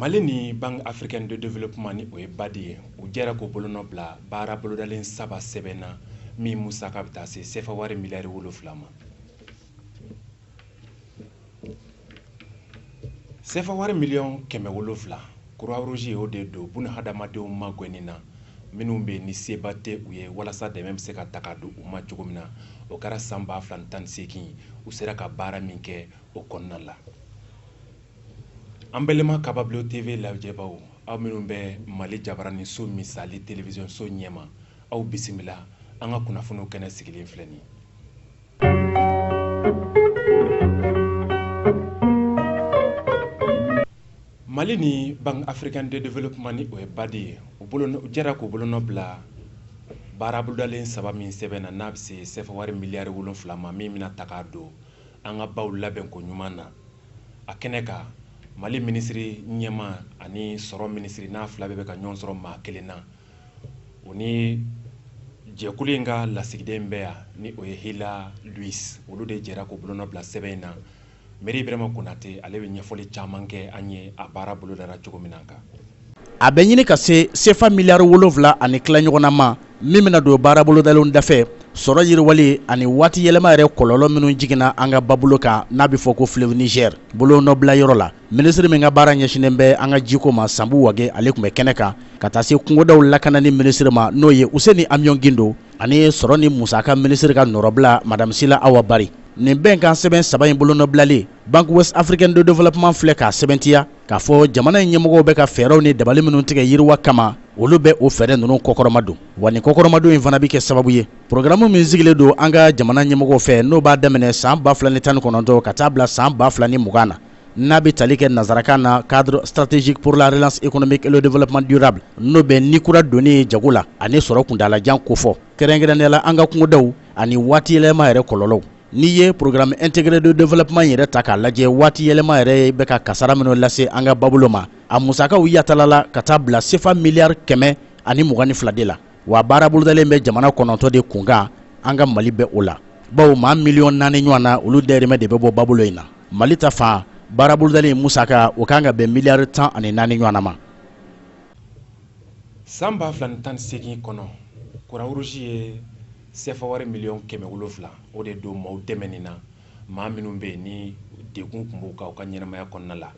mali ni banque africaine de développement ni o ye badi ye u jɛra k'u bolonɔ bila baara bolodalen saba sɛbɛn na min musaka bɛ taa se sefa wari miliyari wolonfila ma sefa wari miliyɔn kɛmɛ wolonfila croix rouge y'o de don buna hadamadenw magɛnni na minnu bɛ ni seba tɛ u ye walasa dɛmɛ bɛ se ka ta ka don u ma cogo min na o kɛra san ba fila ni tan ni seegin u sera ka baara min kɛ o kɔnɔna la an balima kababulon tv lajɛbaw aw minnu bɛ mali jabaranin so misali telewisɔnso ɲɛma aw bisimila an ka kunnafoniw kɛnɛ sigilen filɛ nin mali ni banque africaine de développement ni o ye badi ye u jɛra k'u bolonɔ bila baara bolodalen saba min sɛbɛn na n'a bɛ se sefa wari miliyari wolonfila ma min bɛna ta k'a don an ka baw labɛn ko ɲuman na a kɛnɛ kan mali minisiri ɲɛmaa ani sɔrɔ minisiri n'a fila bɛɛ bɛ ka ɲɔgɔn sɔrɔ maa kelen na o ni jɛkulu in ka lasigiden bɛ yan ni o ye haly louise olu de jɛra k'u bolonɔ bila sɛbɛn in na mɛri bɛrɛma konatɛ ale bɛ ɲɛfɔli caman kɛ an ye a baara bolodara cogo min na kan a bɛ ɲini ka se sefa miliyari wolonfila ani tila ɲɔgɔnna ma min bɛna don baarabolodalen dafɛ sɔrɔ yiriwali ani waati yɛlɛma yɛrɛ kɔlɔlɔ minnu jiginna an ka babolo kan n'a bɛ fɔ ko fleuve niger bolonɔbila yɔrɔ la minisiri min ka baara ɲɛsinnen bɛ an ka jiko ma sanbu wage ale tun bɛ kɛnɛ kan ka taa se kungodaw lakanani minisiri ma n'o ye useni amiyon gindo ani sɔrɔ ni musaka minisiri ka nɔrɔbila madame sila awa bari nin bɛnkan sɛbɛn saba in bolonɔbilalen banque ouest africaine de développement filɛ k'a sɛbɛntiya k'a fɔ jamana in ɲɛmɔgɔw bɛ ka fɛɛrɛw ni dabali minnu tigɛ yiriwa kama olu bɛ o fɛɛrɛ ninnu kɔkɔrɔma don wa nin kɔkɔrɔmadon in fana bɛ kɛ sababu ye porogaramu min sigilen don an ka jamana ɲɛmɔgɔw fɛ n'o b'a daminɛ san 2019 ka taa bila san 2020 na n'a bɛ tali kɛ nansarakan na cadre stratégique pour la relance économique et le développement durable n'o bɛ ni kura donni ye jago la ani sɔrɔ kuntaalajan kofɔ kɛrɛnkɛrɛnnenya la an ka kungodaw ani waati yɛlɛma yɛrɛ kɔlɔlɔw N'i ye programme intégré de développement yɛrɛ ta k'a lajɛ waati yɛlɛma yɛrɛ bɛ ka kasaara minnu lase an ka babolo ma a musakaw yatalala ka taa bila sefa miliyari kɛmɛ ani mugan ni fila de la wa baara bolodalen bɛ jamana kɔnɔntɔn de kunkan an ka mali bɛ o la bawo maa miliyɔn naani ɲɔgɔnna olu dahirimɛ de bɛ bɔ babolo in na mali ta fan baara bolodalen musakaw kan ka bɛn miliyari tan ani naani ɲɔgɔn ma san ba fila ni tan ni seegin kɔnɔ croix rouge ye Sefa wari miliyɔn kɛmɛ wolonwula o de don maaw dɛmɛ nin na maa minnu bɛ yen ni degun tun b'u kan u ka ɲɛnamaya kɔnɔna la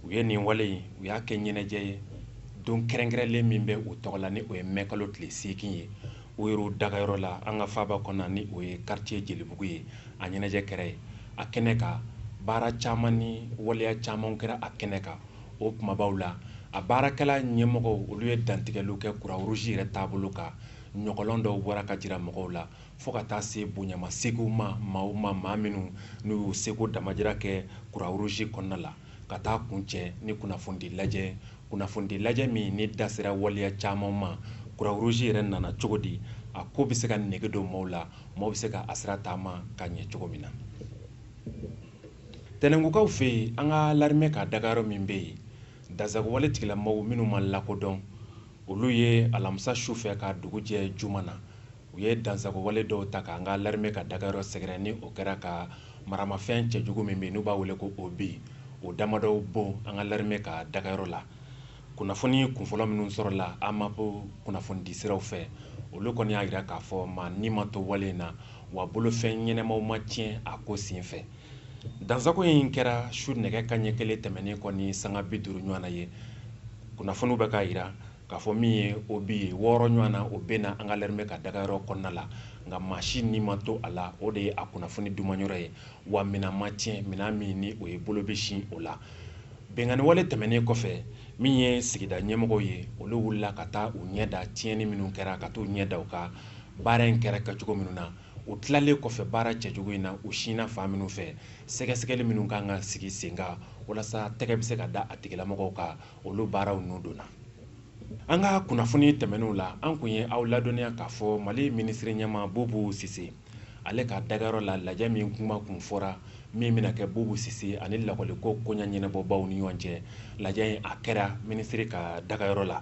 u ye nin wale in u y'a kɛ ɲɛnajɛ ye don kɛrɛnkɛrɛnlen min bɛ u tɔgɔ la ni o ye mɛkalo tile seegin ye u yɛrɛ dagayɔrɔ la an ka faaba kɔnɔna ni o ye quartier jelibugu ye a ɲɛnajɛ kɛra yen a kɛnɛ kan baara caman ni waleya caman kɛra a kɛnɛ kan o kunbabaw la a baarakɛla ɲɛmɔgɔw olu ye dantigɛliw kɛ kurawuruzi yɛrɛ taabolo kan ɲɔgɔlɔn dɔw bɔra ka jira mɔgɔw la fo ka taa se bonyamasegiw ma maaw ma maa minnu n'u y'u seko damajira kɛ kurawuruzi kɔnɔna la ka taa kuncɛ ni kunnafonidi lajɛ kunnafonidi lajɛ min ni da sera waleya caman ma kurawuruzi yɛrɛ nana cogo di a ko bɛ se ka nege don maaw la maaw bɛ se ka a sira taama ka ɲɛ cogo min na tɛnɛngukaw fɛ yen an ka larimɛ ka dagayɔrɔ min bɛ yen dansagonwale tigilamɔgɔw minnu ma lakodɔn olu ye alamisa su fɛ ka dugu jɛ juma na u ye dansagowale dɔw ta k'an ka larime ka dagayɔrɔ sɛgɛrɛ ni o kɛra ka maramafɛn cɛjugu min bɛ n'u b'a wele ko obi o damadɔw bon an ka larime ka dagayɔrɔ la kunnafoni kunfɔlɔ minnu sɔrɔla amapu kunnafonidi siraw fɛ olu kɔni y'a jira k'a fɔ maa ni ma to wale in na wa bolofɛn ɲɛnamaw ma tiɲɛ a ko sen fɛ dansako in kɛra su nɛgɛ kanɲɛ kelen tɛmɛnen kɔ ni sanga bi duuru ɲɔgɔn na ye kunnafoniw bɛ k'a jira k'a fɔ min ye obi ye wɔɔrɔ ɲɔgɔn na o binna an ka larime ka dagayɔrɔ kɔnɔna la nka maa si ni ma to a la o de ye a kunnafoni dumanyɔrɔ ye wa minɛn ma tiɲɛ minɛn min ni o ye bolo bɛ sin o la binkanniwale tɛmɛnen kɔfɛ min ye sigida ɲɛmɔgɔw ye olu wulila ka taa u ɲɛ da tiɲɛni minnu kɛra ka t'u ɲɛ da u kan baara in kɛra kɛcogo minnu na o tilalen kɔfɛ baara cɛjugu in na u sinna fan minnu fɛ sɛgɛsɛgɛli minnu kan ka sigi sen kan walasa tɛgɛ bɛ se ka da a tigilamɔgɔw kan olu baaraw ninnu donna an ka kunnafoni tɛmɛnenw la an kun ye aw ladɔnniya k'a fɔ mali minisiri ɲɛmaa bubu sise ale ka dagayɔrɔ la lajɛ min kuma kun fɔra min bɛna kɛ bubu sise ani lakɔliko koɲa ɲɛnabɔbaw ni ɲɔgɔn cɛ lajɛ in a kɛra minisiri ka dagayɔrɔ la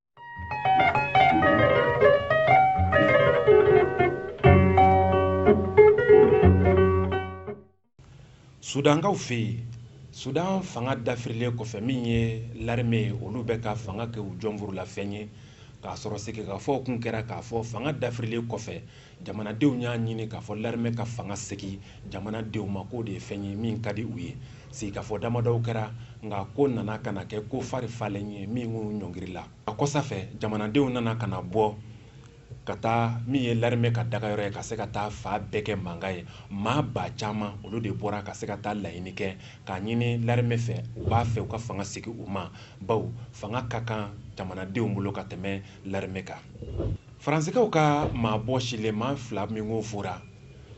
sudankaw fɛ yen sudan fanga dafirilen kɔfɛ min ye larime ye olu bɛ ka fanga kɛ u jɔnfurulafɛn ye k'a sɔrɔ sigikafɔw kun kɛra k'a fɔ fanga dafirilen kɔfɛ jamanadenw y'a ɲini k'a fɔ larime ka fanga segi jamanadenw ma k'o de ye fɛn ye min ka di u ye sigikafɔ damadɔw kɛra nka ko nana ka na kɛ ko fari falen ye min k'u ɲɔngiri la a kɔsa fɛ jamanadenw nana ka na bɔ ka taa min ye larime ka dagayɔrɔ ye ka se ka taa fan bɛɛ kɛ mankan ye maa ba caman olu de bɔra ka se ka taa laɲini kɛ k'a ɲini larime fɛ u b'a fɛ u ka fanga segi u ma bawo fanga ka kan jamanadenw bolo ka tɛmɛ larime kan Faransikaw ka maa bɔsilen maa fila min ko fɔra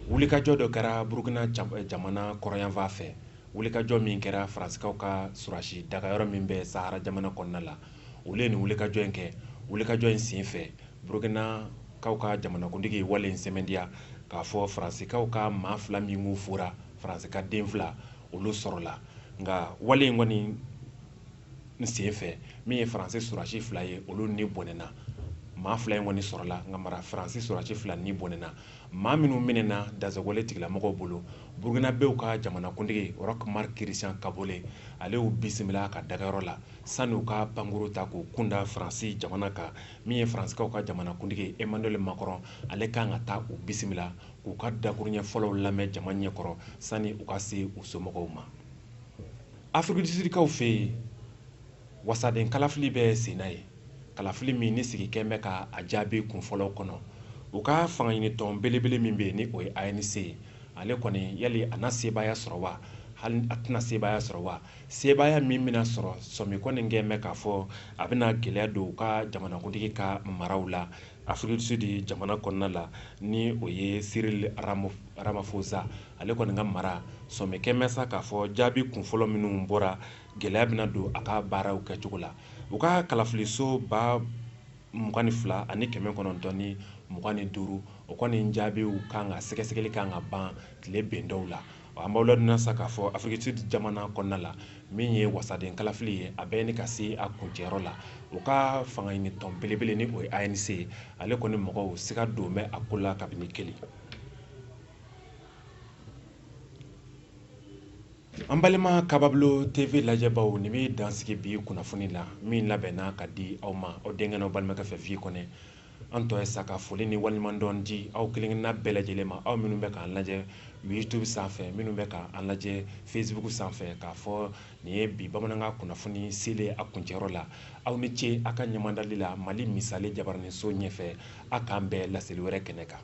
wulikajɔ dɔ kɛra burukina jamana kɔrɔnyanfan fɛ wulikajɔ min kɛra faransikaw ka surasi dagayɔrɔ min bɛ sahara jamana kɔnɔna la u ye nin wulikajɔ in kɛ wulikajɔ in sen fɛ burukinakaw ka jamanakuntigi wale in sɛmɛntiya k'a fɔ faransikaw ka maa fila min ko fɔra faransi ka den fila olu sɔrɔla nka wale in kɔni n sen fɛ min ye faransi surasi fila ye olu ni bɔnɛna maa fila in kɔni sɔrɔla nka mara faransi surasi fila ni bɔnɛna maa minnu minɛna dansagonwale tigilamɔgɔw bolo burukinabew ka jamanakuntigi roch marc christian kaboré ale y'u bisimila a ka dagayɔrɔ la sani u ka pankuru ta k'u kunda faransi jamana kan min ye faransikaw ka jamanakuntigi emmanuel macron ale kan ka taa u bisimila k'u ka dakuruɲɛ fɔlɔw lamɛn jama ɲɛkɔrɔ sani u ka se u somɔgɔw ma afirikidisudikaw fɛ yen wasaden kalafili bɛ sen na ye kalafili min ni sigi kɛn bɛ ka a jaabi kunfɔlɔw kɔnɔ u ka fangaɲinitɔn belebele min bɛ yen ni o ye anc ye ale kɔni yali a na sebaaya sɔrɔ wa hali a tɛna sebaaya sɔrɔ wa sebaaya min bɛna sɔrɔ sɔmi kɔni kɛn bɛ k'a fɔ a bɛna gɛlɛya don u ka jamanakuntigi ka maraw la Afirikidisudi jamana kɔnɔna la ni o ye cyril ramaphosa ale kɔni ka mara sɔmi kɛn bɛ sa k'a fɔ jaabi kunfɔlɔ minnu bɔra gɛlɛya bɛna don a ka baaraw kɛcogo la u ka kalafiliso ba mugan ni fila ani kɛmɛ kɔnɔntɔn ni mugan ni duuru o kɔni jaabiw kan ka sɛgɛsɛgɛli kan ka ban tile bɛn dɔw la an b'aw ladɔnniya sa k'a fɔ afirikidisudi jamana kɔnɔna la min ye wasaden kalafili ye a bɛ ɲini ka se a kuncɛyɔrɔ la u ka fangaɲinitɔn belebele ni o ye anc ye ale kɔni mɔgɔw siga don bɛ a ko la kabini kelen an balima kababulo tv lajɛbaw nin bɛ dan sigi bi kunnafoni la min labɛnna ka di aw ma aw denkɛ n'aw balimakɛ fɛ fi kɔnɛ an tɔ ye sa ka foli ni waleɲumandɔn di aw kelenkelenna bɛɛ lajɛlen ma aw minnu bɛ k'an lajɛ youtube sanfɛ minnu bɛ k'an lajɛ facebook sanfɛ k'a fɔ nin ye bi bamanankan kunnafoni selen a kuncɛyɔrɔ la aw ni ce a ka ɲɛmadali la mali misali jabaraniso ɲɛfɛ a k'an bɛn laseli wɛrɛ kɛnɛ kan